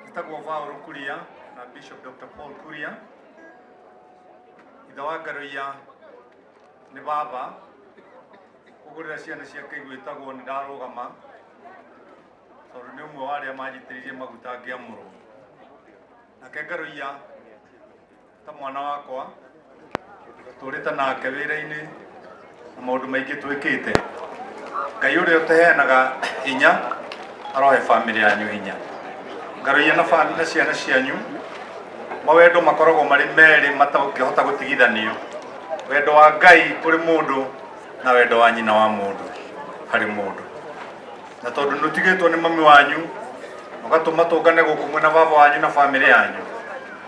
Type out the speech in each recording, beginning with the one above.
Njĩtagwo Vaũrũ Kuria na Bishop Dr. Paul Kuria. Ithe wa Ngaroia nĩ baba kũgũrĩra ciana ciake igwĩtagwo nĩ ndarũgama tondũ nĩ ũmwe wa arĩa manjitĩrĩirie maguta ngĩamũrwo. Nake Ngaroia ta mwana wakwa tũrĩte nake wĩra-inĩ na maũndũ maingĩ twĩkĩte ngai ũrĩa ũteheanaga hinya arohe bamĩrĩ yanyu hinya ngarũia na bamĩrĩ na ciana cianyu mawendo makoragwo marĩ merĩ matangĩhota gũtigithanio wendo wa ngai kũrĩ mũndũ na wendo wa nyina wa mũndũ harĩ mũndũ na tondũ nĩ ũtigĩtwo nĩ mami wanyu ũgatũma tũngane gũkũ mwena baba wanyu na bamĩrĩ yanyu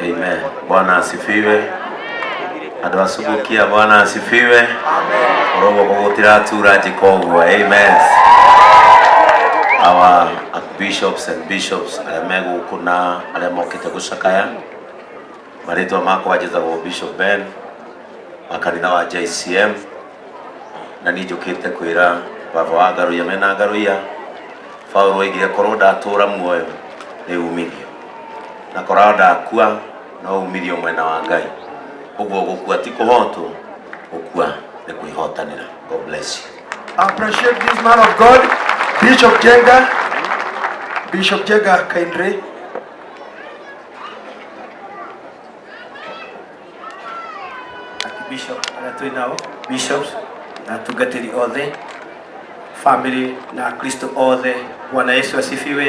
Amen. Bwana asifiwe. Andå a Subukia, Bwana asifiwe. Rogo gũgũtĩra tura njĩka ũguo. Amen. Our bishops and bishops arĩa me gũkũ na arĩa mokĩte gũcakaya marĩtwa makwa njĩtagwo Bishop Ben wa kanitha wa JCM na niĩ njũkĩte kwĩra baba wa ngarũia mena ngarũia Paulo oigire korwo ndatũũra muoyo nĩ umithio na korwo ndakua no umithio mwena wa Ngai ũguo gũkua ti kũhotwo gũkua nĩ kwĩhotanĩra God bless you I appreciate this man of God, Bishop Jenga. Bishop Jenga kindly bishop arĩa twĩ nao bishops na atungatĩri othe family na akristo othe bwana yesu asifiwe